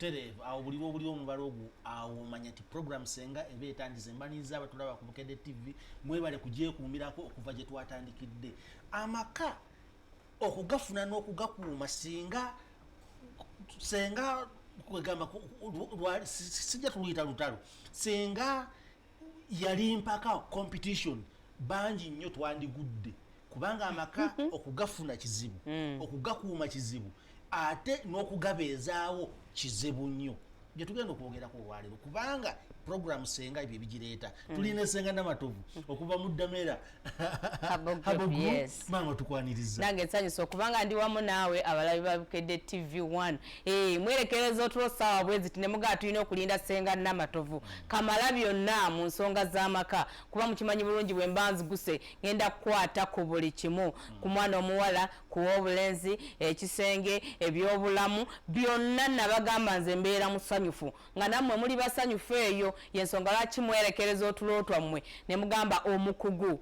tereevu awo buli lwobuli omubala ogwo awo omanya ti program senga eba etandize mbaniriza abatulaba ku bukedde tv mwebale kugyekuumirako okuva gye twatandikidde amaka okugafuna n'okugakuuma singa senga kwegamba sijja tuluyita lutalo senga yali mpaka competition bangi nnyo twandigudde kubanga amaka okugafuna kizibu mm. okugakuuma kizibu ate n'okugabeezaawo kizibu nnyo gyetugenda okwogera ku olwaleero kubanga program senga ebyo ebigireeta mm. tulina esenga namatovu mm. okuva mu ddamera maama tukwaniriza nange nsanyusa okubanga ndi wamu naawe abalabi babukedde tv 1 eh, mwerekereza otulo saawa bwezi tinemugaa tulina okulinda senga namatovu kamala byonna mu nsonga z'amaka kuba mukimanyi bulungi bwe mba nziguse ngenda kukwata ku buli kimu mm. ku mwana omuwala ku w'obulenzi, ekisenge, eby'obulamu, byonna nabagamba nze mbeera musanyufu nga nammwe muli basanyufu eyo yensonga lwaki mwerekereza otulo twammwe ne mugamba omukugu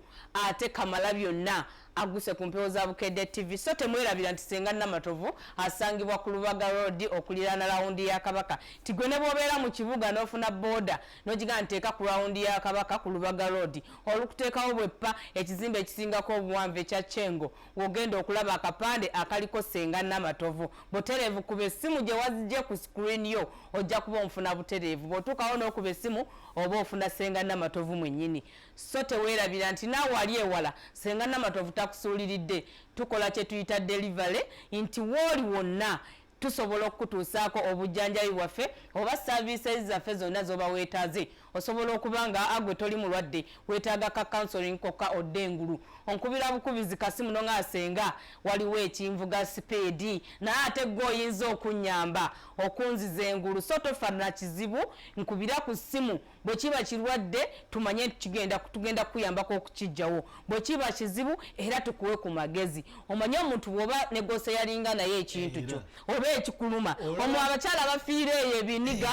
ate kamala byonna aguse ku mpewo za bukedde tv so temwerabira nti senga namatovu asangibwa ku lubaga road okuliraana lawundi ya kabaka nti gwe ne bwobeera mu kibuga n'ofuna booda n'ogiga nteeka ku lawundi ya kabaka ku lubaga road olukuteekawo bweppa ekizimbe ekisingako obuwanvu ekya kyengo wogenda okulaba akapande akaliko senga namatovu butereevu kuba essimu gye wazije ku screen yo ojja kuba omufuna butereevu bwotuukawo n'okuba essimu oba ofuna senga namatovu mwennyini so teweerabira nti naawe wali ewala senga namatovu takusuuliridde tukola kye tuyita delivery nti wooli wonna Tusobola okukutuusaako obujjanjabi bwaffe oba ssaaviises zaffe zonna z'oba weetaaze. Osobola okuba nga gwe toli mulwadde, weetaaga ka counselling kokka odda engulu. Onkubira bukubizi kasimu n'ong'amba ssenga waliwo ekinvuga sipiidi naye ate ggwe oyinza okunnyamba okunziza engulu so tofa na kizibu nkubira ku ssimu bwe kiba kirwadde tumanye nti kigenda tugenda kukuyambako okukijjawo bwe kiba kizibu era tukuwe ku magezi omanye omuntu bwoba negose yalinga naye ekintu kyo oba ekikuluma omu abakyala bafiira eyo ebiniga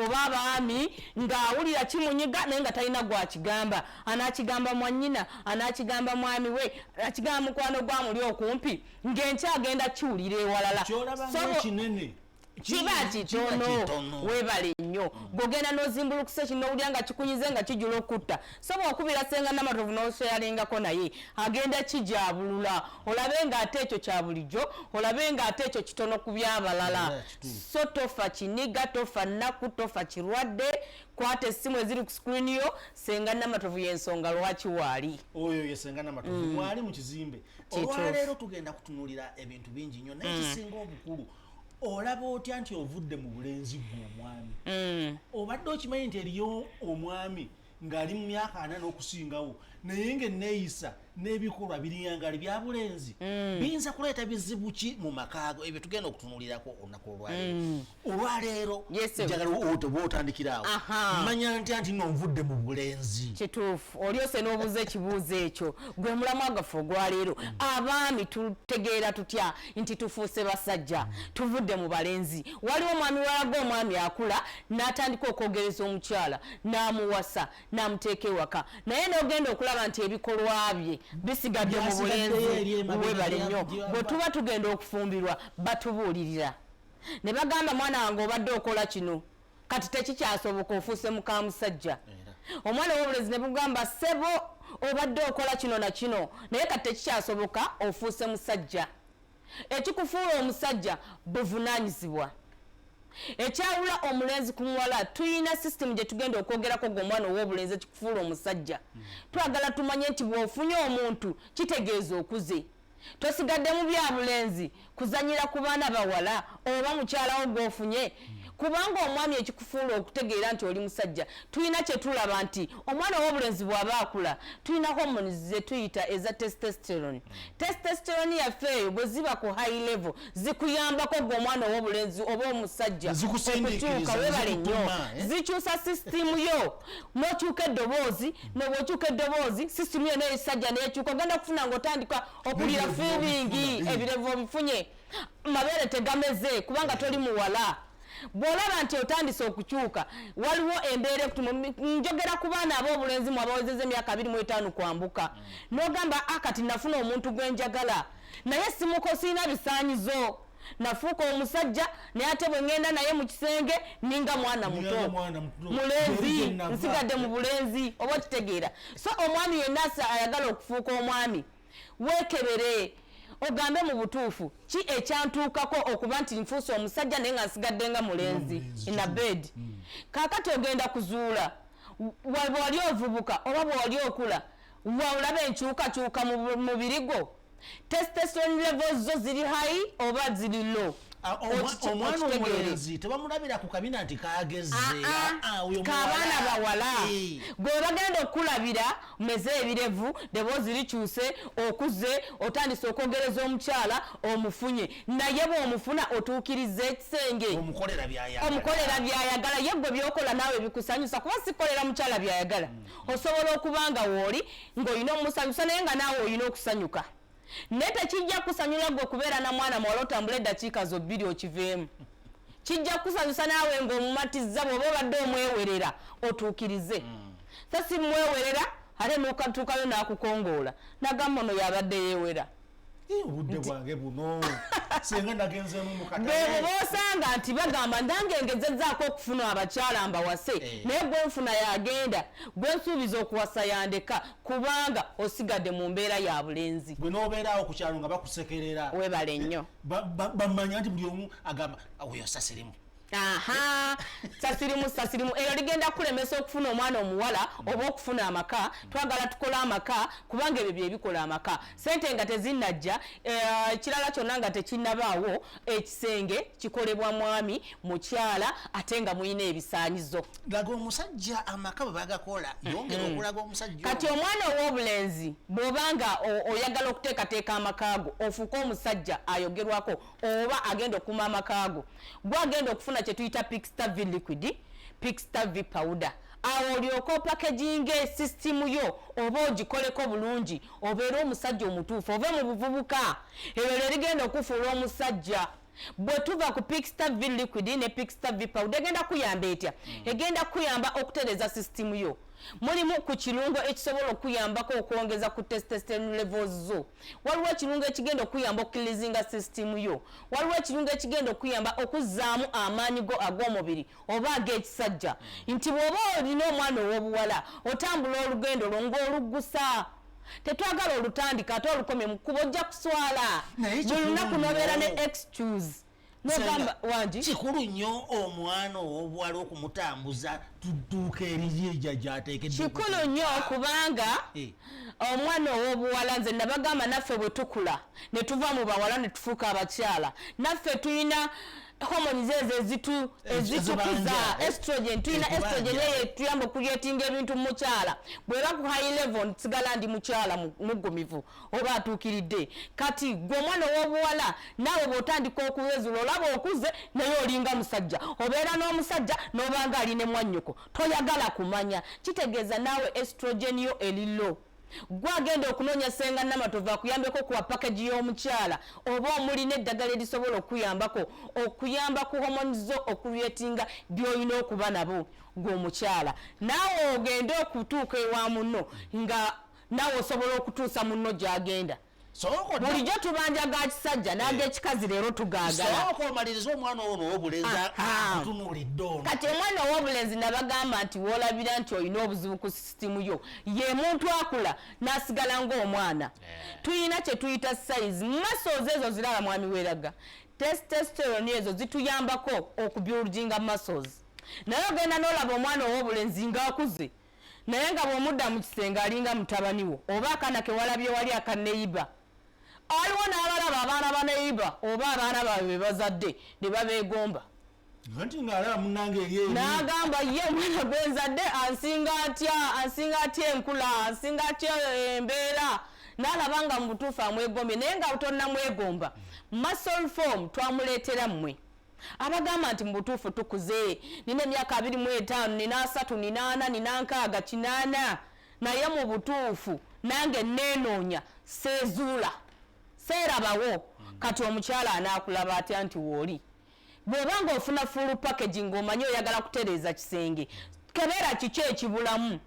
oba abaami ng'awulira kimunyiga naye nga talina gwakigamba anakigamba mwanyina anakigamba mwami we anakigamba mukwano gwamuli okumpi ng'enkyagenda kiwulira ewalala kiba kitono webale nnyo gogenda nozimbulukusa ekinowulira nga kikunyize nga kijula okutta soba okubira senga namatovu noseyalingako naye agenda kijabulula olabe nga ate ekyo kya bulijjo olabe nga ate ekyo kitono ku byabalala so tofa kiniga tofa nnaku tofa kirwadde kwata essimu eziri ku screen yo senga namatovu yensonga lwaki waali oyo ye senga namatovu mm. mwali mu kizimbe olwaleero tugenda kutunulira ebintu bingi nnyo naye mm. kisinga obukulu olaba otya nti ovudde mu bulenzi gwe omwami mm. obadde okimanyi nti eriyo omwami ng'ali mu myaka ana n'okusingawo naye ng'enneeyisa n'ebikolwa birinyangali bya bulenzi mm. biyinza kuleeta bizibu ki mu makaago ebyo tugenda okutunulirako olunaku olwaleero mm. olwaleero njagala oba otandikiraawo manya ntya nti no nvudde mu bulenzi kituufu olyose n'obuuza ekibuuzo ekyo gwe mulamwa gaffe ogwaleero abaami tutegeera tutya nti tufuuse basajja tuvudde mu balenzi waliwo omwami walaga omwami akula n'atandika okwogereza omukyala n'amuwasa n'amuteeka ewaka naye n'ogenda okulaba nti ebikolwa bye bisigadde mu bulenzi webale nnyo bwe tuba tugenda okufumbirwa batubuulirira ne bagamba mwana wange obadde okola kino kati tekikyasoboka ofuuse mukamusajja omwana wobulezi nebugamba sebo obadde okola kino na kino naye kati tekikyasoboka ofuuse musajja ekikufuula omusajja buvunanyizibwa ekyawula omulenzi ku muwala tuyina system gyetugenda okwogerako gwe omwana owobulenzi ekikufuula omusajja hmm. twagala tumanye nti bwofunye omuntu kitegeeza okuze tosigadde mu bya bulenzi kuzanyira ku baana bawala oba mukyalawo gwofunye kubanga omwami ekikufuula okutegeera nti oli musajja tulina kyetulaba nti omwana ow'obulenzi bw'aba akula tulina hormones zetuyita eza testosterone testosterone yaffe eyo bwe ziba ku high level zikuyambako gwe omwana ow'obulenzi oba omusajja okutuuka webale nnyo eh? zikyusa sisitimu yo nokyuka eddoboozi hmm. nobwokyuka eddoboozi sisitimu yona ekisajja nekyuka ogenda kufuna nga otandika okulira fiibingi eh. ebirevu obifunye mabeere tegameze kubanga toli muwala bwolaba nti otandise okukyuka waliwo embeera ekutuma njogera ku baana ab'obulenzi mu abawezeza emyaka abiri mu etaano kwambuka hmm. nogamba akati ah, nafuna omuntu gwenjagala naye simuko sirina bisaanyizo nafuuka omusajja naye ate bwe ŋŋenda naye mu kisenge ninga mwana muto mulenzi nsigadde mu bulenzi oba okitegeera so omwami yenna ayagala okufuuka omwami weekebere ogambe mu butuufu ki ekyantuukako okuba nti nfuusa omusajja naye nga nsigadde nga mulenzi ina bed hmm. kaakati ogenda kuzuula wali ovubuka oba bwewali okula waolaba enkyukakyuka mu mubiri gwo testosterone levels zo ziri high oba ziri low Ah, omwana omulenzi tebamulabira ku kabina nti kagezeabaana ah, ah, bawala eh. gwe bagenda okukulabira meze ebirevu deboozi likyuse okuze otandise okwogereza omukyala omufunye naye bwomufuna otuukiriza ekisenge omukolera byayagala ye gwe byokola naawe bikusanyusa kuba sikolera mukyala byayagala hmm. osobola okuba nga wooli ng'olina omusanyusa naye nga naawe olina okusanyuka naye tekijja kusanyula gwe okubeera na mwana muwala otambula eddakiika zo bbiri okiveemu kijja kusanyusa naawe ng'omumatizza bw'oba obadde omwewerera otuukirize mm. sa si mwewerera ate nokatuukayo n'akukongoola nagamba ono yabadde yeewera obudde bwange buno senga nagenzeemu mukatbebo bosanga nti bagamba nange ngezezaako okufuna abakyala mbawase eh. naye gwenfuna yagenda gwensuubiza okuwasa yandeka kubanga osigadde mu mbeera ya bulenzi gwe nobeerawo ku kyalo nga bakusekerera webale nnyo eh, bamanya nti buli omu agamba oyo sasirimu aha sasirimu sasirimu eyo ligenda kulemesa okufuna omwana omuwala oba okufuna amaka twagala tukole amaka kubanga ebyo byebikola amaka sente nga tezinajja eh, ekirala uh, kyonna nga tekinabaawo ekisenge kikolebwa mwami mukyala ate nga mulina ebisanyizo laga omusajja amaka bwebagakola yongera mm-hmm. okulaga omusajja kati omwana ow'obulenzi bwobanga oyagala okuteekateeka amakaago ofuuka omusajja ayogerwako oba agenda okuma amakaago gwagenda okufuna kyetuyita pixtav liquid pixtav powder awo olyoka opakeginga esisitimu yo oba ogikoleko bulungi obeere omusajja omutuufu ove mu buvubuka ebyo lyerigenda okufuula omusajja bwe tuva ku pixta v liquid ne pixta v powder egenda kuyamba etya hmm. egenda kuyamba okutereza sisitimu yo mulimu ku kirungo ekisobola okuyambako okwongeza ku testestern levels zo waliwo ekirungo ekigenda okuyamba okukilizinga sisitimu yo waliwo ekirungo ekigenda okuyamba okuzzaamu amaanyi go ag'omubiri oba ag'ekisajja nti bw'oba olina omwana ow'obuwala otambula olugendo lwo ng'oluggusa tetwagala olutandika ate olukomye mu kkubo ojja kuswala buli lunaku nobeera ne excuse nogamba wangi kikulu nnyo omwana ow'obuwala okumutambuza tudduuka eriyiija gyateekedde kikulu nnyo kubanga eh. omwana ow'obuwala nze nabagamba naffe bwe tukula ne tuva mu bawala ne tufuuka abakyala naffe tulina homoni zezo ezitu ezitukuza eh? estrogen tulina estrogen eyo etuyamba okuyetinga ebintu mukyala bweba ku high level nsigala ndi mukyala mugumivu oba atuukiridde kati gwe omwana ow'obuwala naawe bw'otandika okuwezula olaba okuze naye olinga musajja obeera n'omusajja n'obanga ali ne mwannyoko toyagala kumanya kitegeeza naawe estrogen yo elilo gwe agenda okunoonya senga namatovu akuyambeko kuwa pakeji y'omukyala oba omulina eddagala erisobola okukuyambako okuyamba ku homoni zo okulyetinga by'olina okuba nabo gwe omukyala naawe ogende okutuuka ewa muno nga nawe osobola okutuusa munno gyagenda bulijjo tubanja ga kisajja nagekikazi eh. leero tugagalaoka omaliriza omwana owo nowobulenzi ah, ah. atunulidde ono kati omwana owobulenzi nabagamba nti wolabira nti olina obuzibu ku sisitimu yo ye muntu akula nasigala ngaomwana eh. tuyina kyetuyita sayizi mumaso ozo ezo ziraba mwami weraga testosterone ezo zituyambako okubyulujinga muscles naye ogenda nolaba omwana owobulenzi ngaakuze naye nga bwomudda mu kisenge alinga mutabani wo oba akaana kewalabye wali aka neyiba aliwo n'abalaba abaana ba neyiba oba abaana baabwe be bazadde ne babeegomba n'agamba ye omwana gwe nzadde ansinga atya ansinga atya enkula ansinga atya embeera n'alaba nga mu butuufu amwegombye naye nga tonamwegomba muscle form twamuleetera mmwe abagamba nti mubutuufu tukuze nina emyaka abiri mu etaano nina asatu nina ana nina nkaaga kinaana naye mu butuufu nange nenoonya seezuula seerabawo hmm. kati omukyala anaakulaba atya nti wooli bw'oba ng'ofuna full package ng'omanyi oyagala kutereeza kisenge kebeera kiki ekibulamu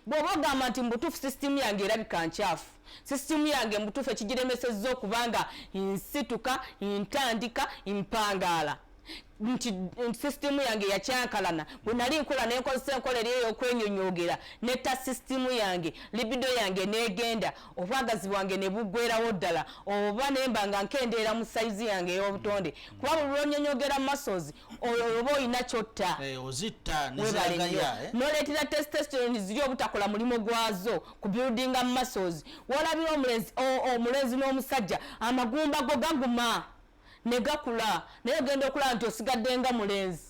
bw'oba ogamba nti mubutuufu sisitimu yange erabika nkyafu sisitimu yange mubutuufu ekigiremesezza okubanga nsituka ntandika mpangaala nti sisitimu yange yakyankalana bwe nali nkola nenkozesa enkola eri eyokwenyonyogera netta sisitimu yange libido yange negenda obwagazi bwange ne buggwerawo ddala oba nemba nga nkendeera mu sayizi yange ey'obutonde kuba buli lwonyonyogera masozi oyo oba olina kyotta eh, ozitta nezagaya eh? noleetera testosterone ziri obutakola mulimu gwazo ku building muscles walabira omulenzi omulenzi n'omusajja amagumba go gaguma ne gakula naye ogenda okulaba nti osigadde nga mulenzi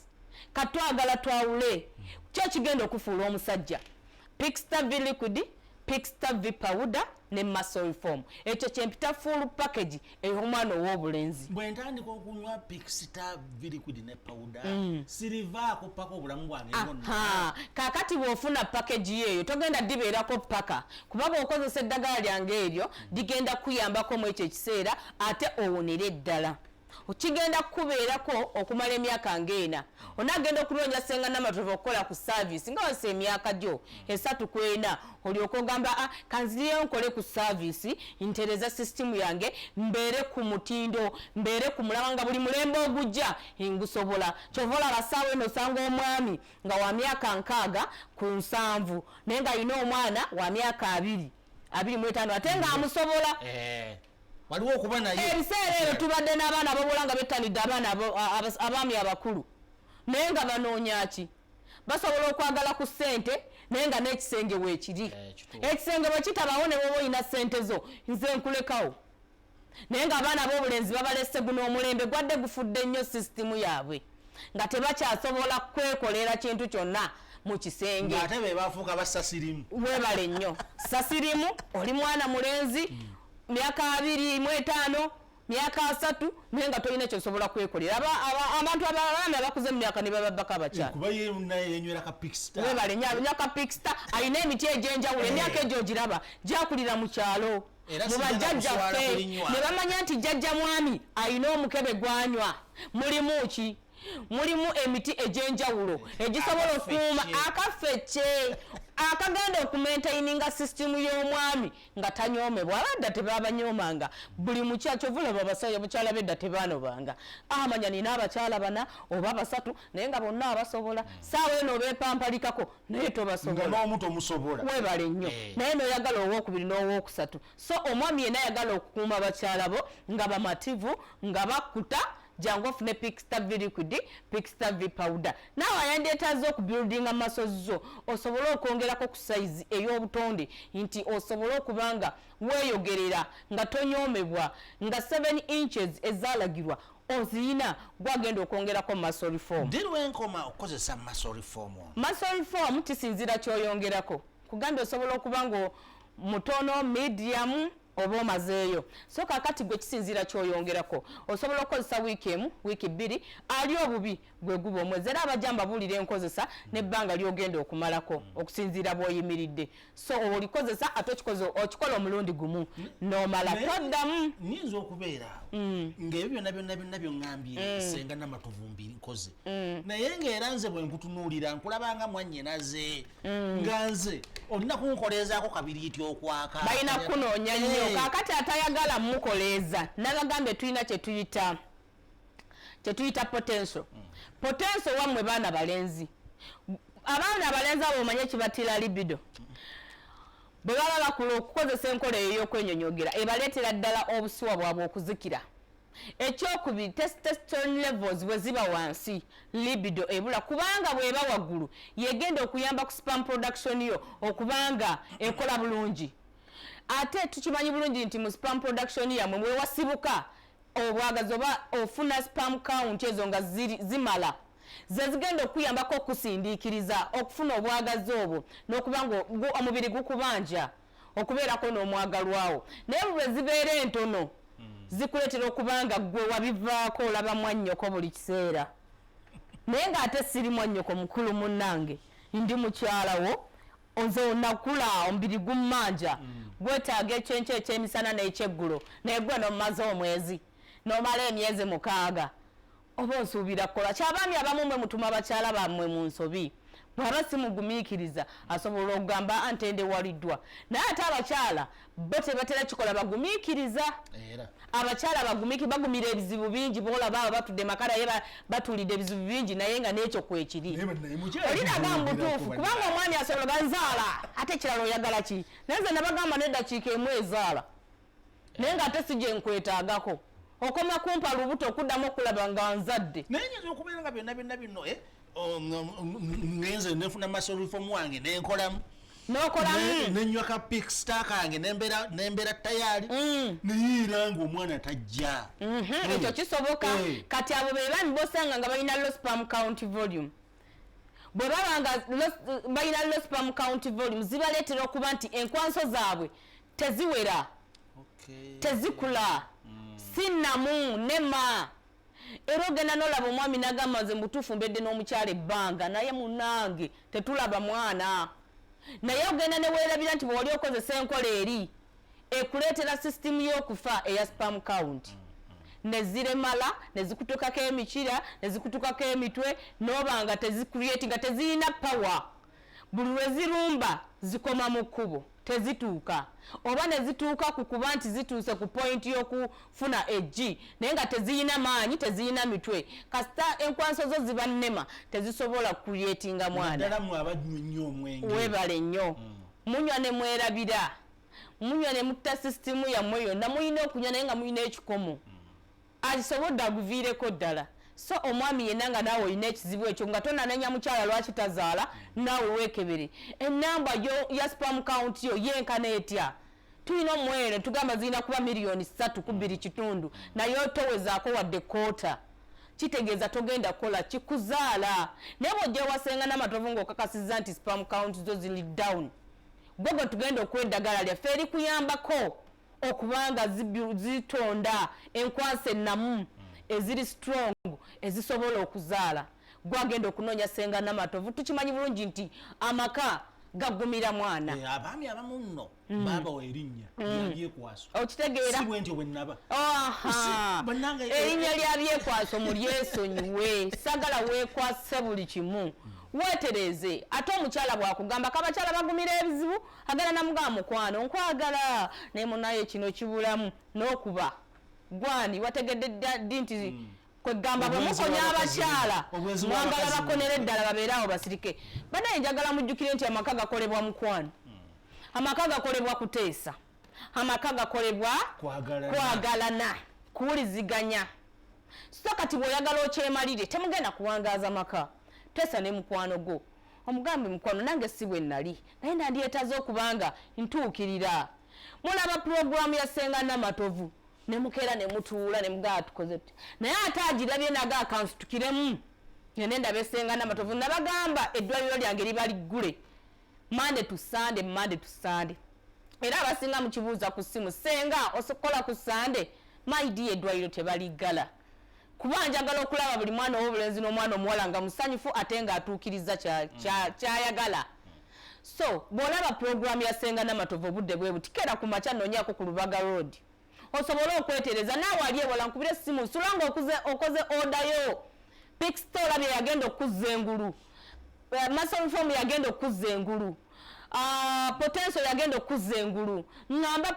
katwagala twawule kyo kigenda okufuula omusajja pixta v liquid pixta v pawuda ne muscle form ekyo kyempita full package eyo omwana ow'obulenzi bwe ntandika okunywa pixta v liquid ne pawuda mm. sirivaako paka obulamu bwange bwonna kaakati bw'ofuna package yeeyo togenda dibeerako paka kuba bw'okozesa eddagala lyange eryo ligenda kuyambako mu ekyo ekiseera ate owonere ddala kigenda kukubeerako okumala emyaka ng'ena onaagenda okunoonya senga namatova okukola ku saavisi nga wasa emyaka gyo esatu ku ena olyoka ogamba a ah, kanziriyo nkole ku saavisi ntereza sisitimu yange mbeere ku mutindo mbeere ku mulaba nga buli mulembe ogujja ngusobola kyova olaba saawa eno osanga omwami nga wa myaka nkaaga ku nsanvu naye nga alina omwana wa myaka abiri abiri mu etaano ate nga amusobola eh. waliwo okuba naye ebiseera ebyo tubadde n'abaana abawula nga bettanidde abaana abaami abakulu naye nga banoonya ki basobola okwagala ku ssente naye nga n'ekisenge weekiri eh, ekisenge bwe kitabawo ne bwoba olina ssente zo nze nkulekawo naye ng'abaana b'obulenzi babalese guno omulembe gwadde gufudde nnyo sisitimu yaabwe nga tebakyasobola kwekolera kintu kyonna mu kisenge ate be bafuuka basasirimu webale nnyo sasirimu oli mwana mulenzi hmm. myaka abiri mu etaano myaka asatu naye nga tolina kyosobola kwekolera abantu abaana abakuze mu myaka nebababbako abakyalawebale nyo akapikista alina emiti egyenjawulo emyaka egyo ogiraba gyakulira mu kyalo mubajjajjaffe ne bamanya nti jjajja mwami alina omukebe gwanywa mulimu ki mulimu emiti egy'enjawulo egisobola okuuma akafecce akagenda okumaintaininga system y'omwami nga tanyoomebwa abadda tebabanyoomanga buli mukyakyo vulaba bakyala bedda tebanobanga amanya ah, nina abakyala bana oba basatu naye nga bonna abasobola hmm. saawa eno bepampalikako naye tobasobolaowebale nnyo eh. naye noyagala owokubiri n'owokusatu so omwami yena ayagala okukuuma bakyala bo nga bamativu nga bakuta jangu ofune pixta v liquid pixta v powder naawe ayandeetaza okubuildinga maso zo osobole okwongerako ku sayizi ey'obutonde nti osobole okuba nga weeyogerera nga tonyoomebwa nga 7 inches ezaalagirwa oziyina gwagenda okwongerako muscle reform ddi lwenkoma okukozesa muscle reform ono muscle reform kisinzira kyoyongerako kugambye osobola okuba nga mutono medium oba omazeeyo so kakati gwe kisinzira kyoyongerako osobola okukozesa wiiki emu wiiki bbiri ali obubi gwe guba omwezi era abajja mbabuulira enkozesa nebbanga lyogenda okumalako okusinziira bwoyimiridde so olikozesa ate okikoze okikola omulundi gumu nomala toddamu nyinza okubeera mm. ngaebyo byonna byonna byonna byoŋambye mm. senga namatuvumbi nkoze mm. naye ngaera nze bwenkutunuulira nkulabanga mwanyinaze nga nze olina kunkoleezaako kabiri iti okwaka balina kunoonya nnyo eh. kakati atayagala mukoleeza nabagambye tulina kyetuyita kyetuyita potential mm. potential wamwe baana balenzi abaana abalenzi abo omanye ekibatira libido bwe baba bakula okukozesa enkola eyo ey'okwenyonyogera ebaleetera ddala obusiwa bwabwe okuzikira ekyokubiri testosterone levels bwe ziba wansi libido ebula kubanga bweba waggulu yegenda okuyamba ku spam production yo okubanga ekola bulungi ate tukimanyi bulungi nti mu spam production yamwe mwewasibuka obwagazi oba ofuna spam count ezo nga zimala zezigenda okuyambako okusindiikiriza okufuna obwagazi obwo nokuba nga omubiri gukubanja okubeerako n'omwagalwawo naye bwezibeera entono hmm. zikuleetera okuba nga gwe wabivaako olaba mwannyoko buli kiseera naye ng'ate siri mwannyoko mukulu munnange ndi mukyalawo nze onakula omubiri gummanja mm. gwetaaga ekyenkyo ekyemisana n'ekyeggulo naye gwe nomumaze omwezi nomala emyezi mukaaga oba osuubira kukola kyabaami abamu mwe mutuma bakyala bammwe mu nsobi bwaba simugumiikiriza asobola okugamba antendewaliddwa naye ate abakyala bo tebatera kikola bagumikiriza abakyala bagumiki bagumira ebizibu bingi bolaba aba batudde makara ye batulidde ebizibu bingi naye nga nekyo kwekiri olinaga mubutuufu kubanga omwami asobola bazaala ate ekirala oyagala ki naye nze nabagamba nedakiika emu ezaala naye nga ate sije nkwetagako okoma kumpa lubuto okuddamu okulaba nga nzadde naye nyinza okubeera nga byonna byonna bino eh? Oh, ngenze nefuna masorufomu wange nenkolamu nokolamu nenywa ka pikstar kange nembeera tayari mm. neyiira nga omwana tajja mhm, mm. ekyo kisoboka eh. kati abo bebami bosanga nga balina lospam count volume bwe baba nga balina lospam count volume zibaleetera okuba nti enkwanso zaabwe teziwera tezikula mm. sinamu nema era ogenda nolaba omwami nagamba nze mubutuufu mbedde n'omukyala ebbanga naye munange tetulaba mwana naye ogenda newerabira nti bwewali okozesa enkola eri ekuleetera sisitimu y'okufa eya spam count neziremala nezikutukako emikira nezikutukako emitwe noba nga tezicreati nga tezirina power buli lwe zirumba zikoma mu kkubo tezituuka oba ne zituuka ku kuba nti zituuse ku pointi y'okufuna eggi naye nga teziyina maanyi teziyina mitwe kasita enkwanso zo zibannema tezisobola kuyetinga mwana webale nnyo mm. munywa ne mwerabira munywa ne mutta sisitimu yammwe yonna mulina okunywa naye nga mulina ekikomo mm. Agisobodde aguviireko ddala. So omwami yenna nga naawe olina ekizibu ekyo nga tonanenya mukyala lwaki tazaala naawe weekebere. Ennamba yo ya spam count yo yenkana etya? Tulina omwere tugamba zirina kuba miliyoni ssatu ku bbiri kitundu naye towezaako wadde kkoota. Kitegeeza togenda kukola ki kuzaala. Naye bw'ojja ewa Ssenga Namatovu ng'okakasizza nti spam count zo ziri down, gwe gwe tugenda okuwa eddagala lyaffe erikuyambako. okuba nga zitonda enkwansa ennamu hmm. eziri strong ezisobola okuzaala gwagenda okunoonya senga namatovu tukimanyi bulungi nti amaka gagumira mwana eh, abaami abamu nno mm. baabawa erinnya mm. lyabyekwaso okitegeera si bwentyo bwe nnaba erinnya lyabyekwaso mulyesonyiwe sagala weekwase buli kimu mm. weetereeze ate omukyala bwakugamba kabakyala bagumira ebizibu agala namugamba mukwano nkwagala naye munaye kino kibulamu nokuba gwani wategedde ddi nti mm. kwegamba bwemukonya abakyala mwagala bakonera eddala babeere awo basirike banaye njagala mujjukire nti amaka gakolebwa mukwano hmm. amaka gakolebwa kuteesa amaka gakolebwa kwagalana kuwuliziganya so kati bweoyagala okyemalire temugenda kuwangaaza maka teesa ne mukwano gwo Omugambe mukwano nange si bwe nali naye nandyetaze okuba nga ntuukirira. Mulaba pulogulaamu ya Ssenga Namatovu ne mukeera ne mutuula ne mugamba tukoze tutya naye ate agirabye naga akansitukiremu ngende ndabe Ssenga Namatovu nabagamba eddwaliro lyange liba liggule mande tu sande mande tu sande era abasinga mukibuuza ku ssimu Ssenga osikola ku sande mayidiya eddwaliro tebaliggala. kuba njagala okulaba buli mwana owobulenzi n'omwana omuwala nga musanyufu ate nga atuukiriza kyayagala mm. so bwolaba puroguramu ya senga namatovu obudde bwe buti kera ku makya nonyako ku lubaga road osobole okwetereza naawe ali ewala nkubira essimu sula nga okoze odayo pixto olabye yagenda okukuzza engulu eh, masolfomu yagenda okukuzza engulu Ah, potenso yagenda okukuzza engulu ŋŋamba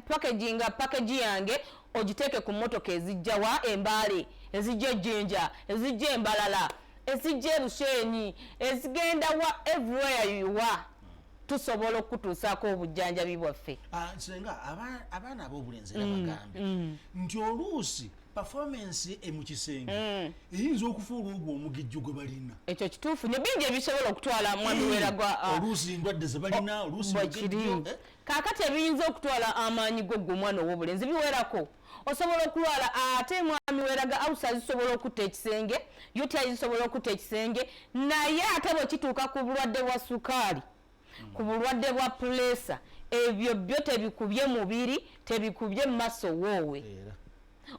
pakeginga pakegi yange ogiteeke ku mmotoka ezijja wa embaale ezijja ejjinja ezijja embalala ezijja ebusheenyi ezigenda wa everywhere you are tusobola okutuusaako obujjanjabi bwaffe ah, senga abaana ab'obulenzi era mm, bagambe mm. nti oluusi performance e mu kisenge mm. eyinza okufuula ogwo omugijjo gwe balina ekyo kituufu ne bingi ebisobola okutwala mwami mm. weragwa uh, oluusi endwadde ze balina oluusi mugijjo eh? kaakati ebiyinza okutwala amaanyi go gwe omwana ow'obulenzi biwerako osobola okulwala ate mwami weraga ausa zisobola okutta ekisenge yuti zisobola okutta ekisenge naye ate bwekituuka ku bulwadde bwa sukaali ku hmm. bulwadde bwa puleesa ebyo byo tebikubye mubiri tebikubye mumaso woowe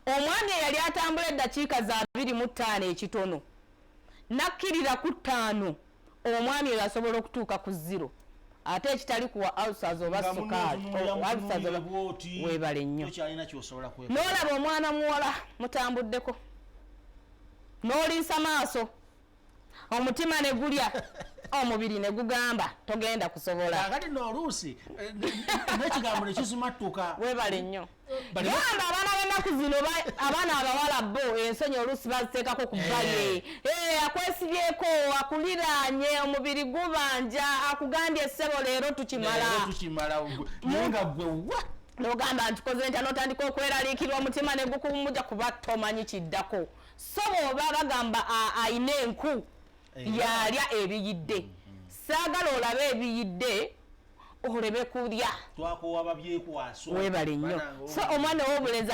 omwami eyali atambula eddakiika za biri mu ttaano ekitono nakkirira ku ttaano omwami oyo asobola okutuuka ku ziro ate ekitali kuwa alsas oba sukaaliwebale nnyo n'olaba omwana muwala mutambuddeko n'oliisa maaso omutima ne gulya omubiri ne gugamba togenda kusobola kakati n'oluusi eh, n'ekigambo ne kizimattuka weebale nnyo gamba abaana b'ennaku zino abaana abawala bo ensonyi oluusi baziteekako ku bbali eh. eh, akwesibyeko akuliraanye omubiri gubanja akugambye essebo leero tukimala nga gwe wa nogamba nti koze ntya notandika okweraliikirwa omutima ne gukuwumuja kuba tomanyi kiddako so bwoba bagamba ayina enku yalya ebiyidde mm, mm. saagala olabe ebiyidde olebe kulya webale nnyo so omwana wobulenzi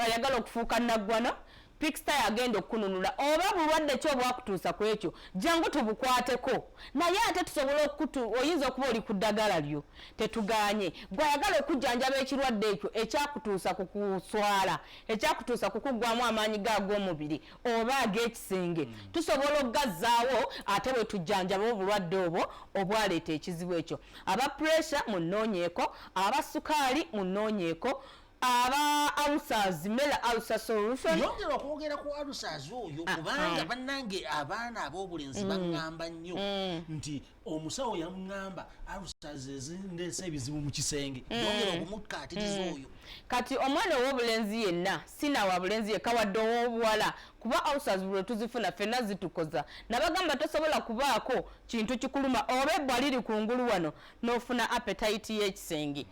ayagala okufuuka naggwana pikisita yagenda okukununula oba bulwadde ki obwakutuusa ku ekyo jangu tubukwateko naye ate tusobola okutu oyinza okuba oli ku ddagala lyo tetuganye gweayagala okujjanjaba ekirwadde ekyo ekyakutuusa ku kuswala ekyakutuusa kukuggwamu amaanyi ge ag'omubiri oba ag'ekisenge mm. tusobola okugazzaawo ate bwe tujjanjaba obulwadde obwo obwaleeta ekizibu ekyo aba puresha mu nnoonyeeko aba sukaali mu nnoonyeeko aba alusaz mela alusa solution yongera okwogera ku alusaz oyo ah, kubanga ah. bannange abaana ab'obulenzi mm. baŋŋamba nnyo mm. nti omusawo yamugamba alusazezindeesa ebizibu mu kisenge mm. yongera okumukkaatiriza mm. oyo kati omwana ow'obulenzi yenna sina wa bulenzi yekka wadde ow'obuwala kuba alusaz buli tuzifuna fenna zitukoza nabagamba tosobola kubaako kintu kikuluma oba ebbwa liri ku ngulu wano n'ofuna apetayiti y'ekisenge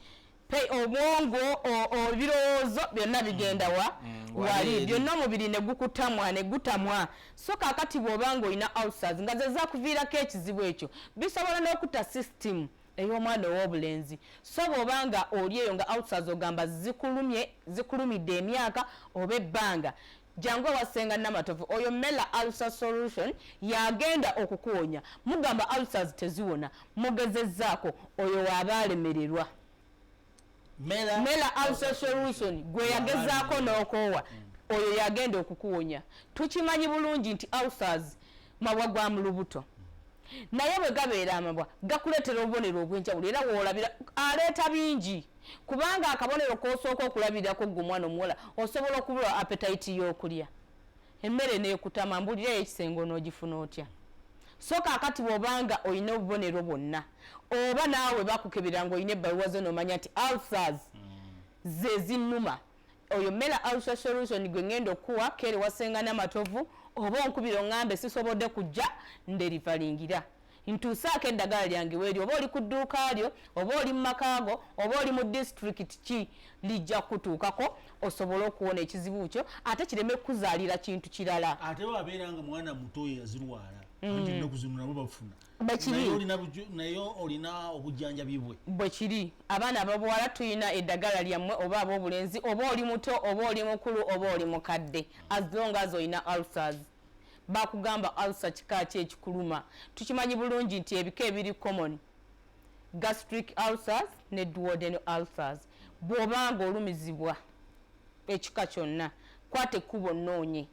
pay obwongo ebirowoozo byonna bigenda wa mm, mm, wali byonna omubiri ne gukutamwa ne gutamwa so kakati bw'oba ng'olina ulcers nga ze zakuviirako ekizibu ekyo bisobola n'okutta system ey'omwana ow'obulenzi so bw'oba nga oli eyo nga ulcers ogamba zikulumye zikulumidde emyaka oba ebbanga jangu ewa senga namatovu oyo mela ulcer solution yagenda okukuwonya mugamba ulcers teziwona mugezezaako oyo waaba alemererwa mela, mela ulcer solution gwe yagezaako n'okoowa mm. oyo yagenda okukuwonya tukimanyi bulungi nti ulcers mabwa gwa mu lubuto naye bwe gabeera amabwa gakuleetera obubonero obwenjawulo era woolabira aleeta bingi kubanga akabonero kosooka okulabirako gwe omwana omuwala osobola okubula apetayiti yokulya emmere nekutama mbulirayo ekisenge onogifuna otya so kakati bwobanga olina obubonero bwonna oba naawe bakukebera nga olina ebbaluwa zo nomanya nti alsars mm. zezinuma Oyo Mela Ulcer Solution gwe ngenda okuwa kere wa Senga Namatovu oba onkubira ongambe sisobodde kujja nderivalingira. Ntuusaako eddagala lyange weeri oba oli ku dduuka lyo oba oli mu maka go oba oli mu disitulikiti ki lijja kukutuukako osobole okuwona ekizibu kyo ate kireme kukuzaalira kintu kirala. Ate bw'abeera nga mwana muto ye yazirwala anti mm. ennaku zino nabo bafuna. naye olina obujjanjabi bwe bwe kiri abaana ababuwala tulina eddagala lyammwe oba ab'obulenzi oba oli muto oba oli mukulu oba oli mukadde as long as olina ulcers bakugamba ulcer kika ki ekikuluma tukimanyi bulungi nti ebika ebiri common gastric ulcers ne duoden ulcers bw'oba nga olumizibwa ekika kyonna kwata ekkubo nnoonye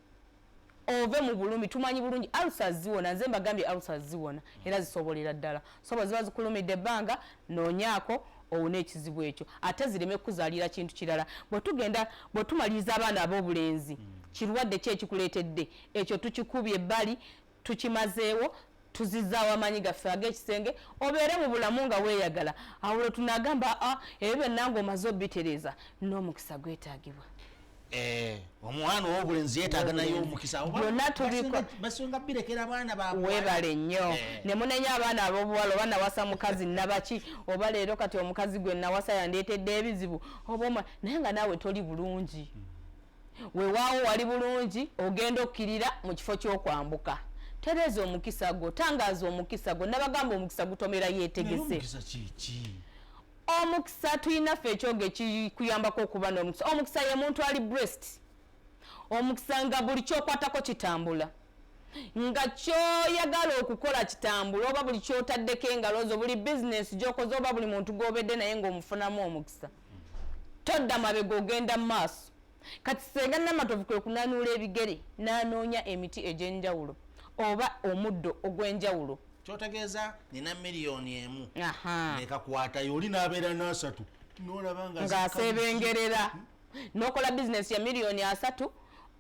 ove mu bulumi tumanyi bulungi alusa ziwona nze mbagambye alusa ziwona era zisobolera ddala so bwe ziba zikulumidde ebbanga noonyaako owone ekizibu ekyo ate zireme kukuzaalira kintu kirala bwe tugenda bwe tumaliriza abaana ab'obulenzi mm. kirwadde ki ekikuleetedde ekyo tukikubye ebbali tukimazeewo tuzizaawo amaanyi gaffe ag'ekisenge obeere mu bulamu nga weeyagala awo lwe tunaagamba a ah, ebyo byonna nga omaze obitereeza n'omukisa gwetaagibwa eh, omwana owobulenzi yetaaga naye omukisa byonna tubibasinga birekera abaana babwe webale nnyo eh. ne munenya abaana ab'obuwala oba nawasa mukazi nabaki oba leero kati omukazi gwe nawasa yandeetedde ebizibu oba naye nga naawe toli bulungi mm. wewaawo wali bulungi ogenda okkirira mu kifo ky'okwambuka tereeza omukisa gwo tangaaza omukisa gwo nabagamba omukisa gutomera yeetegese omukisa tulinaffe ekyoge kikuyambako okuba n'omukisa omukisa ye muntu ali brest omukisa nga buli kyokwatako kitambula nga kyoyagala okukola kitambula oba buli kyotaddeko engalo zo buli bizinesi gyokoze oba buli muntu gwobedde naye ngaomufunamu omukisa todda mabega ogenda mu maaso kati senga namatovu kwe kunanuula ebigere n'anoonya emiti egy'enjawulo oba omuddo ogw'enjawulo kyotegeeza nina miliyoni emu nekakwatayo oli n'abeera n'asatu nolaba ng'aseebengerera nokola bizinesi ya miliyoni asatu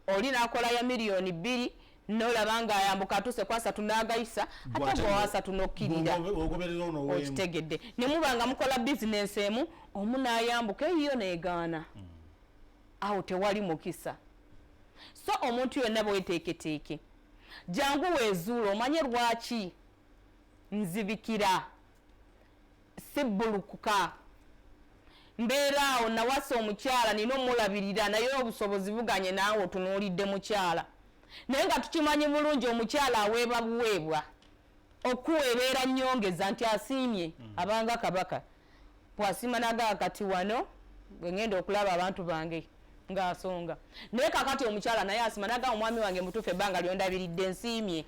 oli nakola ya miliyoni bbiri nolaba nga ayambuka atuse kwasatu nagayisa ate gwewasatu nokukirira okitegedde nemuba nga mukola bizinensi emu omu nayambuka eyiyo negaana hmm. awo tewali mukisa so omuntu yonna bweteeketeeke jangu wezuula omanye lwaki nzibikira sibbulukuka mbeera awo nawasa omukyala nina omulabirira naye obusobozi buganye naawe otunuulidde mukyala naye nga tukimanyi bulungi omukyala aweeba buweebwa okuwa ebeera nyongeza nti asiimye mm. abanga kabaka bwasiima nagaa kati wano bwengenda okulaba abantu bange ng'asonga naye kakati omukyala naye asima nagamba omwami wange mutuufu ebbanga lyondabiridde nsiimye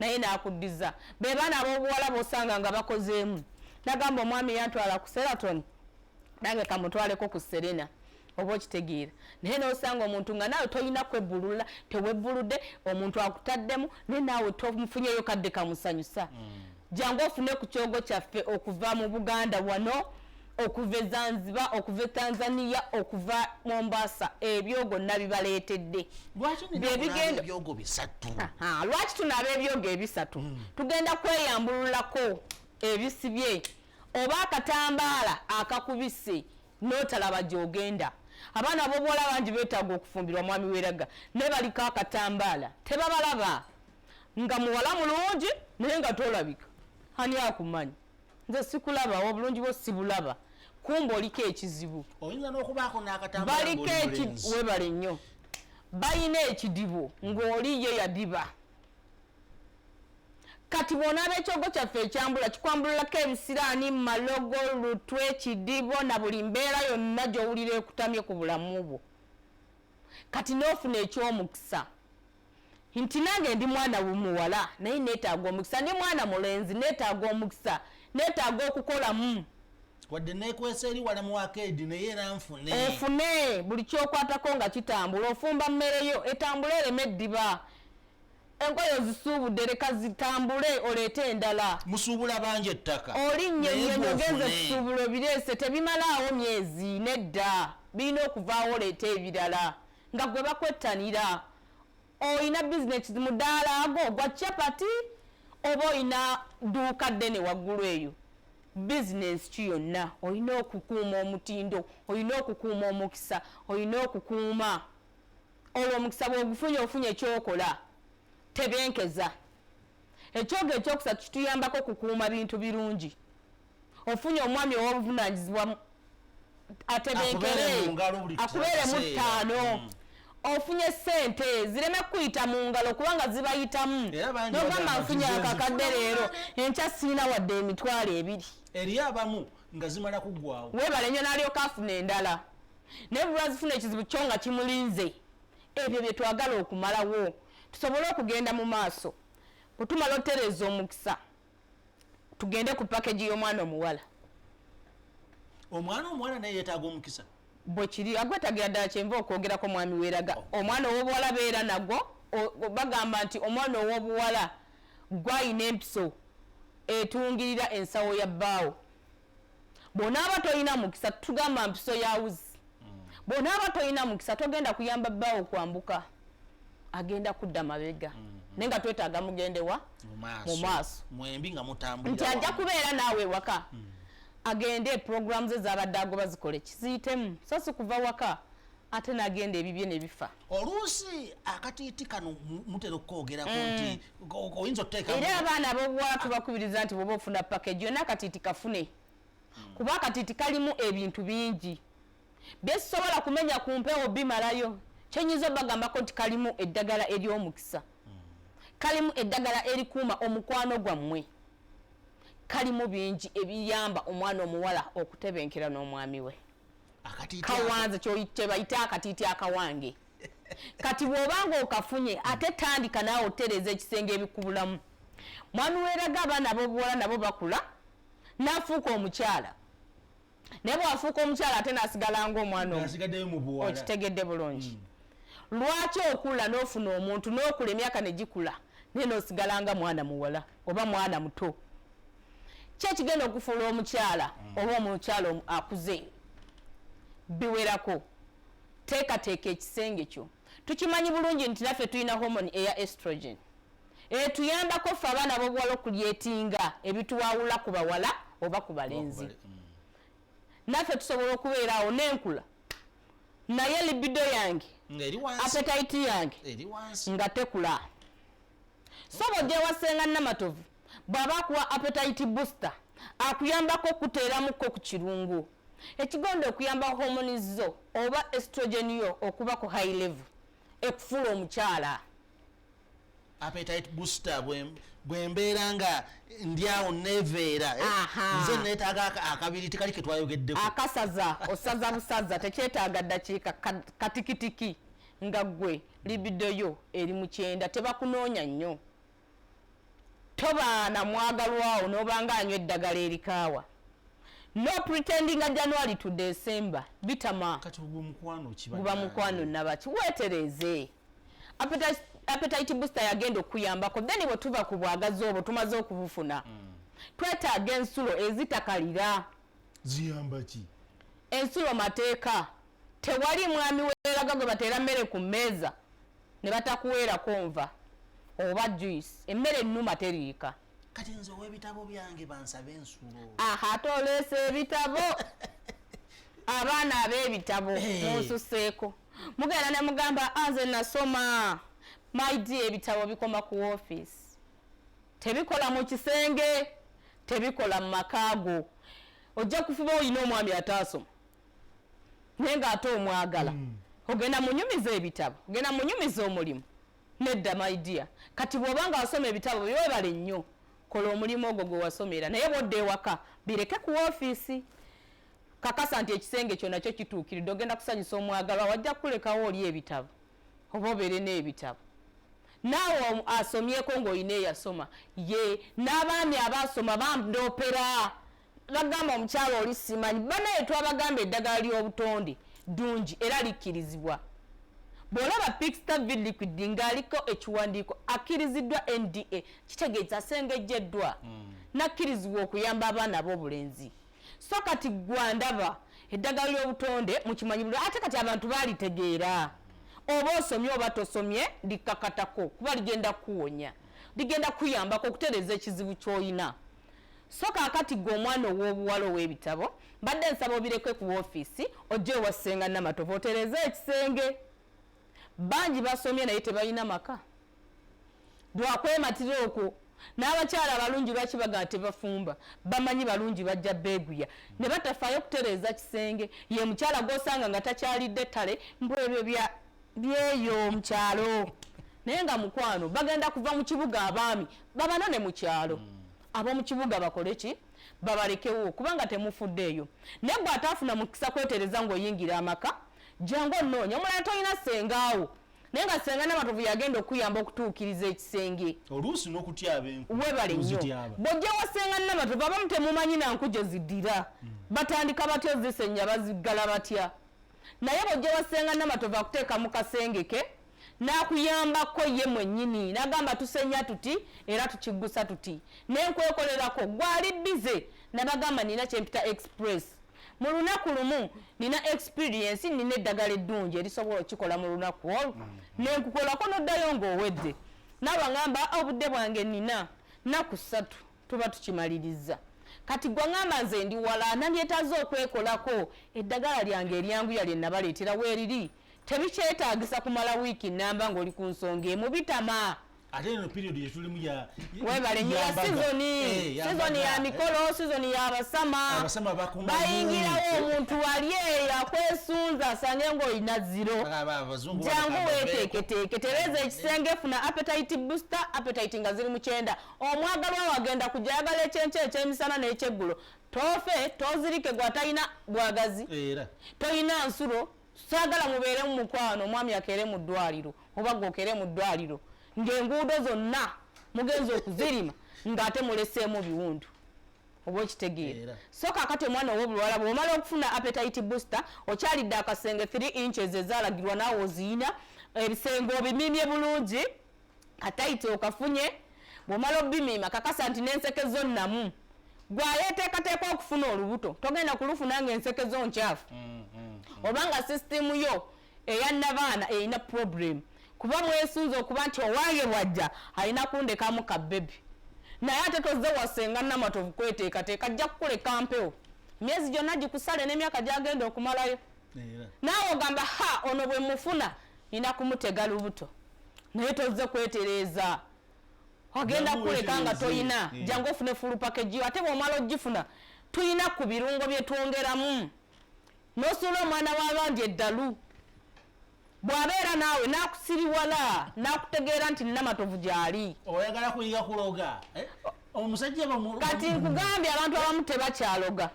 naye nakuddiza be baana abobuwala bosanga nga bakozeemu nagamba omwami yantwala ku seraton nange kamutwaleko ku serena oba okitegeera naye nosanga omuntu nga naawe tolina kwebbulula tewebbuludde omuntu akutaddemu naye naawe tomufunyeyo kadde kamusanyusa mm. jangu ofune ku kyogo kyaffe okuva mu buganda wano okuva e zanziba okuva e tanzania okuva mombasa ebyogo nabibaleetedde byebigendo bisatu lwaki tunaaba ebyogo ebisatu hmm. tugenda kweyambululako ebisibye oba akatambaala akakubise notalaba gyogenda abaana bobuwala bangi betaaga okufumbirwa mwami weraga naye baliko akatambaala tebabalaba nga muwala mulungi naye nga tolabika ani akumanyi nze sikulaba obulungi bwo sibulaba kumba oliko ekizibu baliko webale nnyo balina ekidibo ng'oli ye yadiba kati bwona abekyogo kyaffe ekyambula kikwambululako ebisiraani malogo lutwe kidibo na buli mbeera yonna gyowulira ekutamye ku bulamu bwo kati n'ofuna ekyomukisa nti nange ndi mwana muwala naye neetaaga omukisa ndi mwana mulenzi neetaaga omukisa neetaaga okukolamu wadde nekwesa eri wala mu akeedi naye era nfune ofune buli kyokwatako nga kitambula ofumba mmere yo etambula ereme eddiba enkoyo zisuubudde leka zitambule oleete endala musuubula bangi ettaka olinnye nyenyogenza ebisuubulo bireese tebimalaawo myezi nedda birina okuvaawo oleete ebirala nga gwe bakwettanira olina bizinesi mudaala ago gwa chapati oba olina duuka ddene waggulu eyo bizinesi ki yonna olina okukuuma omutindo olina okukuuma omukisa olina okukuuma olwo omukisa bweogufunye ofunye ekyokola tebenkeza ekyoga ekyokusatu kituyambako okukuuma bintu birungi ofunye omwami owobuvunanyizibwa atebenkere akubeere mu ttaano mm. ofunye sente zireme kukuyita mu ngalo kubanga zibayitamu nogamba nfunye akakadde leero enkya sirina wadde emitwalo ebiri eri abamu nga zimala kugwawo webale nyo nalyoka afuna endala naye bulwazifuna ekizibu kyo nga kimulinze ebyo byetwagala okumalawo tusobole okugenda mu maaso bwetumala otereeza omukisa tugende ku package y'omwana omuwala omwana omuwala naye yetaaga omukisa bwekiri agwetagira ddala kyenva okwogerako mwami weraga omwana owobuwala beera nagwo bagamba nti omwana owobuwala gwayina empiso etungirira ensawo ya bbaawo bwonaaba tolina mukisa tugamba mpiso ya wuzi bwonaaba tolina mukisa togenda kuyamba bbaawo kwambuka agenda kudda mabega mm. naye nga twetaaga mugendewa mu maaso nti ajja kubeera naawe ewaka mm. agende programu ze zabadde agoba zikole kiziyitemu so si kuva waka ate nagenda ebibye nebifa oluusi akatiiti kano mutera okukoogerako mm. nti oyinza oteeka era abaana abobuwala tubakubiriza nti bwoba ofuna pakeji yona akatiiti kafune mm. kuba akatiiti kalimu ebintu bingi byesobola kumenya ku mpewo bimalayo kyenyinza obagambako nti kalimu eddagala eryomukisa mm. kalimu eddagala erikuuma omukwano gwammwe kalimu bingi ebiyamba omwana omuwala okutebenkera n'omwami we kawanze kyebayita akatiiti akawange kati bwobanga okafunye ate tandika naawe otereeza ekisenge ebikubulamu mwami weraga abaana abobuwala nabo bakula nafuuka omukyala naye bwafuuka omukyala ate nasigala nga omwana okitegedde bulungi hmm. lwaki okula nofuna omuntu nokula emyaka negikula naye nosigala nga mwana muwala oba mwana muto kyekigenda okufuula omukyala mm. oba omukyala akuze biwerako teekateeka ekisenge kyo tukimanyi bulungi nti naffe tulina homoni eya estrogen etuyambako ffe abaana bobuwala okulyetinga ebituwawula ku bawala oba ku balenzi mm. naffe tusobola okubeeraawo nenkula naye libido yange apetaiti yange nga tekula Sooba ojja ewa Ssenga Namatovu bw'aba akuwa appetite booster akuyambako okukuteeramukko ku kirungo ekigonda okuyamba hormones zo oba estrogen yo okuba ku high level ekufuula omukyala. appetite booster bwe mbeera nga ndi awo neveera eh? nze neetaaga akabiri tekali ke twayogeddeko akasaza osaza busaza tekyetaaga ddakiika katikitiki Nga gwe libido yo eri mukyenda tebakunoonya nnyo. Toba na mwagalwawo nobanga anywa eddagala erikaawa. No pretendinga January to December bitama. Kati ogwo mukwano ki banange? Guba mukwano nabaki? Wetereeze. Appetite appetite booster yagenda okuyambako then bwe tuva ku bwagazi obwo tumaze okubufuna mm. twetaaga ensulo ezitakalira ziyamba ki ensi lwa mateeka tewali mwami weraga gwe bateera mmere ku mmeeza ne batakuweerako nva oba juice emmere ennuma teriika kati nze ow'ebitabo byange bansabe ensulo aha ate oleesa ebitabo abaana ab'ebitabo eh. munsuseeko mugenda ne mugamba anze ah, nasoma my dear ebitabo bikoma ku ofiisi tebikola mu kisenge tebikola mu maka go ojja kufuba olina omwami ataasoma naye nga ate omwagala mm. ogenda munyumiza ebitabo ogenda munyumiza omulimu nedda maidia kati bwoba nga wasoma ebitabo byewebale nnyo kola omulimu ogwo gwe wasomera naye bwodda ewaka bireke ku ofiisi kakasa nti ekisenge kyo nakyo kituukiridde ogenda kusanyusa omwagalwa wajja kukulekawo oli ebitabo oba obeere n'ebitabo naawe asomyeko ng'olina eyasoma ye n'abaami abaasoma bandoopera bagamba omukyalo oli simanyi banaye twabagamba eddagala ly'obutonde ddungi era likkirizibwa bw'olaba pixta vid liquid ng'aliko ekiwandiiko akkiriziddwa nda kitegeeza asengejjeddwa mm. n'akkirizibwa okuyamba abaana ab'obulenzi so kati gwandaba eddagala ly'obutonde mukimanyi buli ate kati abantu balitegeera oba osomye oba tosomye likkakatako kuba ligenda kukuwonya ligenda kuyambako okutereeza ekizibu ky'olina so kakati gwe omwana ow'obuwala ow'ebitabo mbadde nsaba obireke ku ofiisi ojja ewa ssenga namatovu otereeze ekisenge bangi basomye naye tebalina maka lwakwematira okwo n'abakyala abalungi lwaki bagala tebafumba bamanyi balungi bajja beeguya ne batafaayo kutereeza kisenge ye mukyala gw'osanga nga takyalidde ttale mbu ebyo byeyo mu kyalo naye nga mukwano bagenda kuva mu kibuga abaami babano ne mu kyalo hmm. ab'omu kibuga bakole ki babalekewo kubanga temufuddeeyo naye gwe ataafuna mukisa kwetereza ng'oyingira amaka jangu onoonya omulala tolina sengaawo naye nga senga namatovu yagenda okuyamba okutuukiriza ekisenge oluusi nokutyaba enku webale nyo bojja wa senga namatovu abamu temumanyi nanku gye zidira hmm. batandika batya ozisenya baziggala batya naye bojja wa senga namatovu akuteeka mu kasenge ke nakuyambako ye mwenyini nagamba tusenya tuti era tukiggusa tuti naye nkwekolerako gwali bize nabagamba nina kyempita express mu lunaku lumu nina experience nina eddagala eddungi erisobola okikola mu lunaku olwo mm. nenkukolako noddayo ngaowedde naawe aŋamba ah, obudde bwange nina naku ssatu tuba tukimaliriza kati gwe aŋamba nze ndi wala nandyetaaza okwekolako eddagala lyange eryanguya lye nabaleetera weeriri tebikyetaagisa kumala wiiki namba ng'oli ku nsonga emu bitama ate eno period yetulimu ya webale nyo ya sizoni eh, sizoni ya mikolo sizoni ya basama bayingirawo omuntu wali eyo akwesunza asange ngaolina ziro jangu weteeketeeke tereza ekisenge funa appetite booster appetite nga ziri mukyenda omwagalwa wagenda kujayagala ekyenkyo ekyemisana n'ekyeggulo tofe tozirike gwatalina bwagazi toyina nsulo Saagala mubeere mu mukwano omwami akeere mu ddwaaliro oba ggwe okeere mu ddwaaliro ng'enguudo zonna mugenze okuzirima ng'ate muleseemu biwundu oba okitegeera so kakati omwana owobulwala bwomala okufuna appetite booster okyalidde akasenge 3 inches ezalagirwa naawe oziyina ebisenge obimimye bulungi katayiti okafunye bwomala obimiima kakasa nti nenseke zo namu gwayeteekateeka okufuna olubuto togenda kulufuna nga enseke zo nkyafu mm, mm, mm. obanga sisitimu yo eya nabaana erina problemu kuba mwesunze okuba nti owange bwajja alina kundekamu ka bebi naye ate toze wasenga namatovu kweteekateeka ajja kukuleka mpewo myezi gyonna gikusale n'emyaka gyagenda okumalayo naawe ogamba ha ono bwe mufuna Nina kumutega lubuto naye tozze kwetereeza ogenda kuleka nga toyina hmm. jangu ofune fulu pakejiyo ate bwomala ogifuna tuyina ku birungo byetwongeramu nosuula omwana wabandi eddalu bwabeera naawe nakusiriwala nakutegeera nti nina matovu gyali oyagala kuyiga kuloga eh? omusajja kati nkugambye abantu abamu tebakyaloga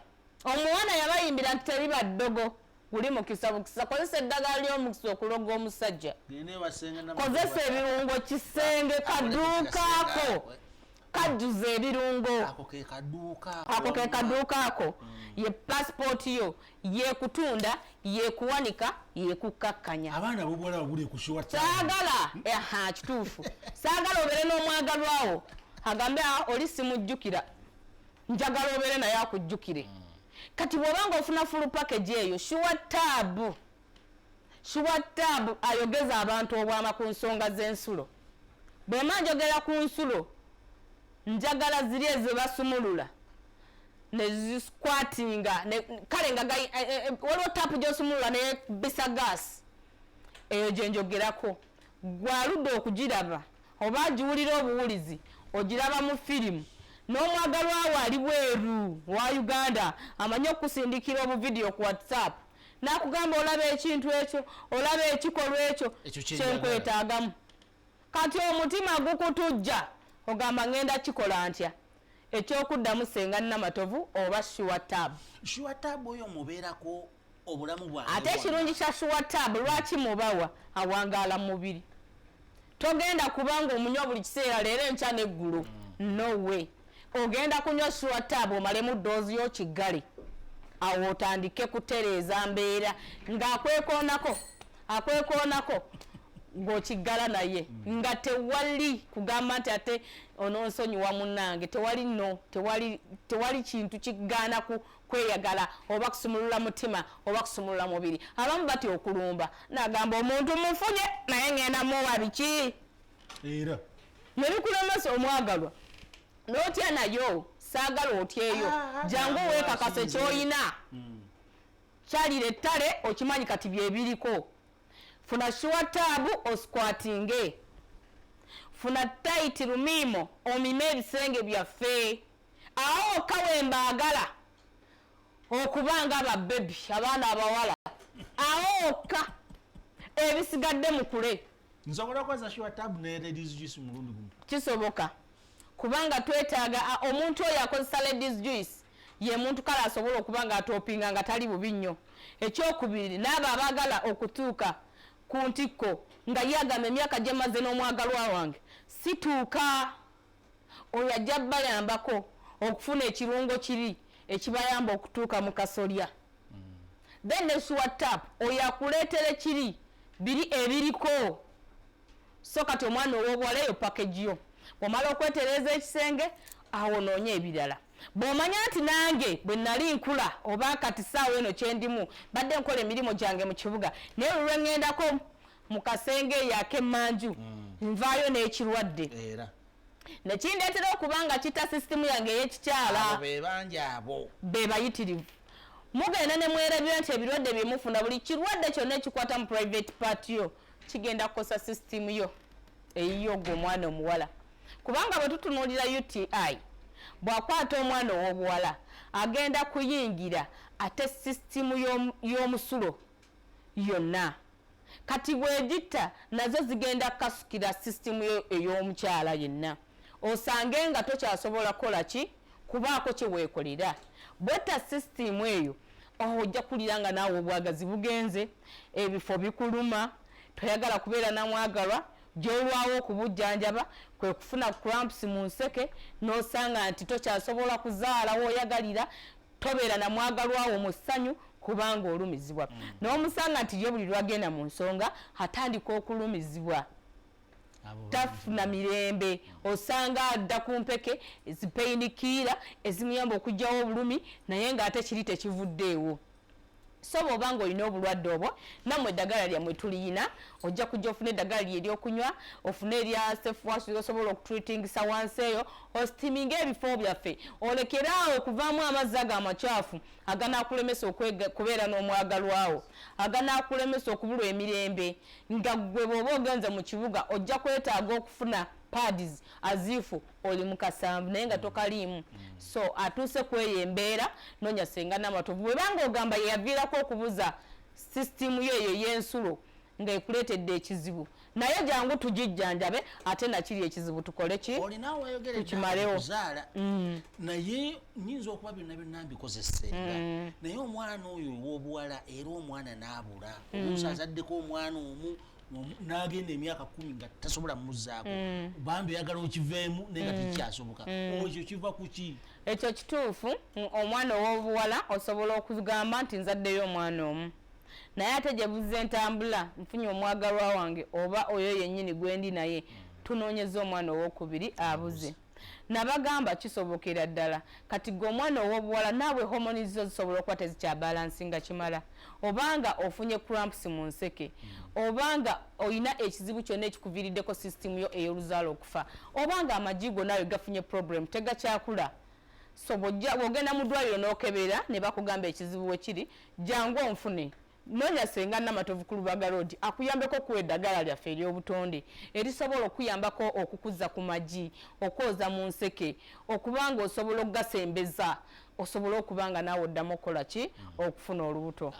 omuwana yabayimbira nti teri baddogo guli mukisa bukisa kozesa eddagala ly'omukisa okuloga omusajja kozesa ebirungo kisenge kaduukaako kajjuza ebirungo ako ke kaduuka ako hmm. ye pasipooti yo yekutunda yekuwanika yekukkakkanya abaana bobuwala babuli kushiwa saagala aha kituufu saagala obeere n'omwagalwawo agambe ah, oli simujjukira njagala obeere naye akujjukire hmm. kati bwobanga ofuna full package eyo shuwa taabu shuwa taabu ayogeza abantu obwama ku nsonga z'ensulo bwema njogera ku nsulo njagala ziri ezebasumulula nezikwatinga kale nga eh, eh, eh, waliwo taapu gyosumulula naye bisa gaasi eyo gyenjogerako gwaludde okugiraba Oba agiwulira obuwulizi ogiraba mu firimu. N'omwagalwa wo ali bweru wa Uganda amanyi okukusindikira obuvidiyo ku WhatsApp n'akugamba olaba ekintu ekyo, olaba ekikolwa ekyo kye nkwetaagamu. Kati omutima gukutujja ogamba ng'enda kikola ntya? Eky'okuddamu Ssenga Namatovu oba Sure Tab. Sure Tab oyo omubeerako obulamu bwa ate ekirungi kya shuwa tab lwaki mubawa awangaala mu mubiri togenda kubanga omunywa buli kiseera leero enkya n'eggulo mm. no way ogenda kunywa shuwa tab omalemu doozi yo kiggale awo otandike kutereeza mbeera ng'akwekoonako akwekoonako ng'okiggala naye mm. nga tewali kugamba nti ate ononsonyiwa munnange tewali no tewali kintu kigaana ku kweyagala oba kusumulula mutima oba kusumulula mubiri abamu batya okulumba nagamba omuntu mufunye naye ngenda muwa biki era nebikulemesa omwagalwa notya nayo saagala otyeyo ah, ah, jangu ah, weekakase kyoyina hmm. kyalira ettale okimanyi kati byebiriko funa shuwa taabu osikwatinge funa taiti lumiimo omime ebisenge byaffe Awo wokka wembaagala okuba nga babebi abaana abawala awo wokka ebisigadde mukule kisoboka kubanga twetaaga omuntu oyo akozesa ladies juice ye muntu kale asobola okuba nga atopinga nga tali bubi nnyo ekyokubiri naabo abaagala okutuuka ku ntikko nga ye agamba emyaka gyemaze n'omwagalwa wange situuka Oyo ajja bayambako okufuna ekirungo kiri ekibayamba okutuuka mu kasolya mm. then ne sure tap oyo akuleetera ekiri biri ebiriko so kati omwana ow'obuwala eyo package yo omala okwetereeza ekisenge awo noonye ebirala bw'omanya nti nange bwe nali nkula oba kati saawa eno kyendimu badde nkola emirimu gyange mu kibuga naye olulwengendako mu kasenge eyo ak'emmanju mm. nvaayo n'ekirwadde era nekindeetera okuba nga kita sisitimu yange ey'ekikyala bebangi abo be bayitirivu mugenda ne mwerabira nti ebirwadde bye mufuna buli kirwadde kyonna ekikwata mu private part yo kigenda kukosa sisitimu yo eyiyo gwe omwana omuwala kubanga bwe tutunuulira uti bw'akwata omwana ow'obuwala agenda kuyingira ate sisitimu y'omusulo yonna Kati bwegitta nazo zigenda kukasukira system yo ey'omukyala yenna osange nga tokyasobola kukola ki kubaako kyeweekolera. Bwetta system eyo oh ojja kuwulira nga naawe obwagazi bugenze, ebifo bikuluma, toyagala kubeera na mwagalwa, gy'olwawo okubujjanjaba kwe kufuna cramps mu nseke n'osanga nti tokyasobola kuzaala w'oyagalira, tobeera na mwagalwa wo mu ssanyu kubanga olumizibwa mm. n'omusanga nti ye buli lwagenda mu nsonga atandika okulumizibwa tafuna mirembe osanga adda ku mpeke ezipeyinikiira ezimuyamba okugyawo obulumi naye ng'ate kiri tekivuddeewo so bwoba nga olina obulwadde obwo namwe eddagala lyammwe tuliyina ojja kujja ofuna eddagala lye eryokunywa ofune erya sefuwasu osobola okutreatingisa wansi eyo ostiminga ebifo byaffe olekere awo okuvaamu amazzi ago amakyafu aganakulemesa okubeera n'omwagalwawo aganakulemesa okubulwa emirembe nga gwe bwoba ogenze mu kibuga ojja kwetaaga okufuna pads azifu oli mukasanvu naye nga tokaliimu so atuuse kweyo embeera nonya senga namatovu bwebanga ogamba yeyaviirako okubuza sisitimu yo eyo yensulo nga ekuleetedde ekizibu naye jangu tugijjanjabe ate nakiri ekizibu tukole ki tukimarewo mm. naye nyinza okuba byonna byonna mbikozesenga mm. naye omwana oyo owobuwala era omwana naabula mm. omusa azaddeko omwana omu nagenda emyaka kumi nga tasobola muzaako mm. bambi oyagala okiveemu naye nga mm. tekikyasoboka mm. ekyo kiva kuki ekyo kituufu omwana owobuwala osobola okugamba nti nzaddeyo omwana omu naye ate gyebuza entambula nfunye omwagalwa wange oba oyo yennyini gwendi naye tunoonyeza omwana owokubiri abuze mm. Nabagamba kisobokera ddala. Kati ggwe omwana ow'obuwala naawe hormones zo zisobola okuba tezikyabalansinga kimala, oba nga ofunye cramps mu nseke, hmm. oba nga olina ekizibu kyonna ekikuviiriddeko system yo ey'oluzaala okufa, oba nga amagi go naawe gafunye problem tegakyakula. So bw'ogenda mu ddwaliro n'okebera ne bakugamba ekizibu we kiri, jangu onfune. Noonya Ssenga Namatovu ku Lubaga Road akuyambeko okukuwa eddagala lyaffe ery'obutonde erisobola okukuyambako okukuza ku magi, okwoza mu nseke okuba ng'osobola okugasembeza osobole okuba nga naawe oddamu okukola ki okufuna olubuto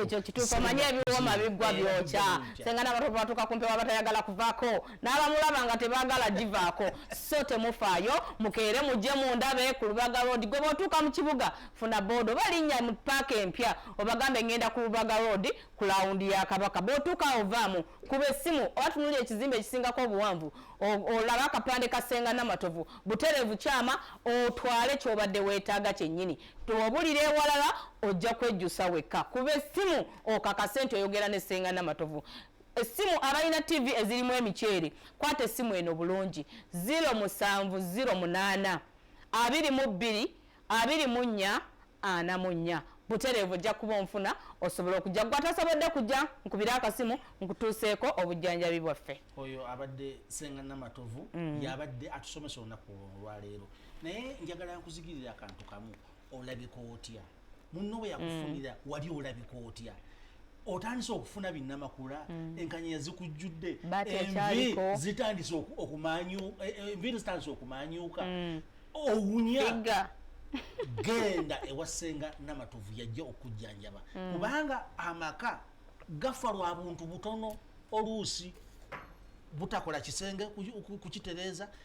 ekyo kituufu omanyi ebiwooma biggwa byokya senga nabatovu batuuka ku mpewa batayagala kuvaako n'abamulaba nga tebaagala givaako so temufaayo mukeere mujje mundabee ku lubaga road gwe bwotuuka mu kibuga funa boda oba linnya mu paaka empya obagambe ngenda ku lubaga road ku lawundi ya kabaka bw'otuuka awo vaamu kuba essimu oba tunulira ekizimbe ekisingako obuwanvu olaba akapande ka ssenga namatovu butereevu kyama otwale ky'obadde weetaaga kyennyini obulira ewalala ojja kwejjusa wekka kuba essimu okakase nti oyogera ne ssenga namatovu essimu abalina ttivi ezirimu emiceere kwata essimu eno bulungi 0 musanvu 0 munaana abiri mu bbiri abiri mu nnya ana mu nnya butereevu ojja kuba onfuna osobola okujja gwe atasobodde kujja nkubire akasimu nkutuuseeko obujjanjabi bwaffe oyo abadde senga namatovu mm. yabadde atusomesa olunaku olwaleero naye njagala nkuzigirira akantu kamu olabika otya munno bwe yakufunira mm. wali olabika otya otandise okufuna binnamakula mm. enkanyanya zikujjudde envi zitandise okumanyuka e, e, enviiri zitandise okumanyuka mm. owunya genda ewasenga namatovu yajja okujjanjaba mm. kubanga amaka gafa lwa buntu butono oluusi butakola kisenge kukitereeza